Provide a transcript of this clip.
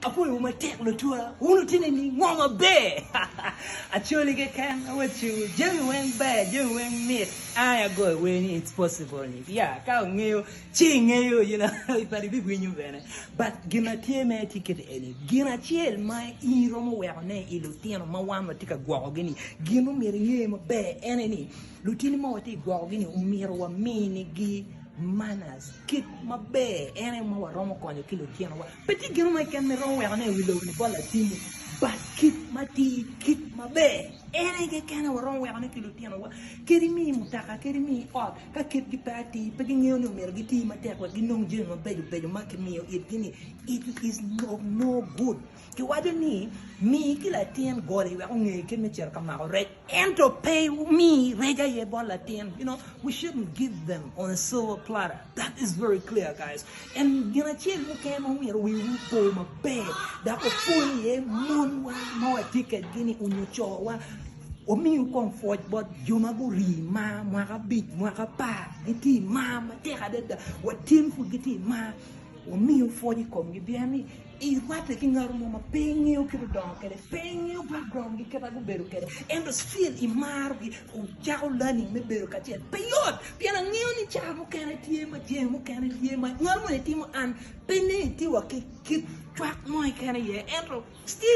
Apwoyowu matek lutwa, wun otine ni ngo maber? Acholi keken awacciwu jami weng ber, jami weng mit. Ai agoyo wer ni it's possible ni ya ka ongeyo ci ingeyo you know but ibiwinyo bene but gin ma tye me tye kiti eni gin acel ma in iromo weko ne i lutino ma wan watye ka gwokogi ni gin ma omyero inge maber ene ni Lutini ma watye ka gwokogi ni omyero waminigi manners, kit maber en aye ma waromo konyo ki lutinowa. Pe tye gin mo keken ma iromo weko ane i wi lobo-ni bot latinni, but kit matir, kit maber en aye keken aye waromo weko ane ki lutinowa. Kadi imiyo i mutoka, kadi imiyo i ot, ka kitgi pe atir, pe gingeyo ni omyero giti matek wek ginong jami mabeco beco ma kimiyo itgi ni, it is of no good. Kiwaco ni, Mi ki latin goli wek onge kit me cito ka mako rec. Ento pe wumi rec aye bot latin. You know, we shouldn't give them on a silver platter. That is very clear, guys. En gin acel mukene ma omyero wiwu opo maber, dok opo iye monwa ma watye kedgi-ni onyo cowa. Wamiu kong pwoc bot jo ma guri mar mwaka abic, mwaka apar, gitye i mar matek adada. Watyen pud gitye i mar. Wamiu pwoc i komgi pien ni I rwate ki ngat mo ma pe ingeyo kit odongo kede, pe ingeyo background gi kit a gubedo kede ento still i maro gi u cako learning me bedo kacel pe yot pien a ngeyo ni caa mukene tye ma jee mukene tye ma ngat moni timo an pe ni tye wa ki kit cwak mo keken aye ento still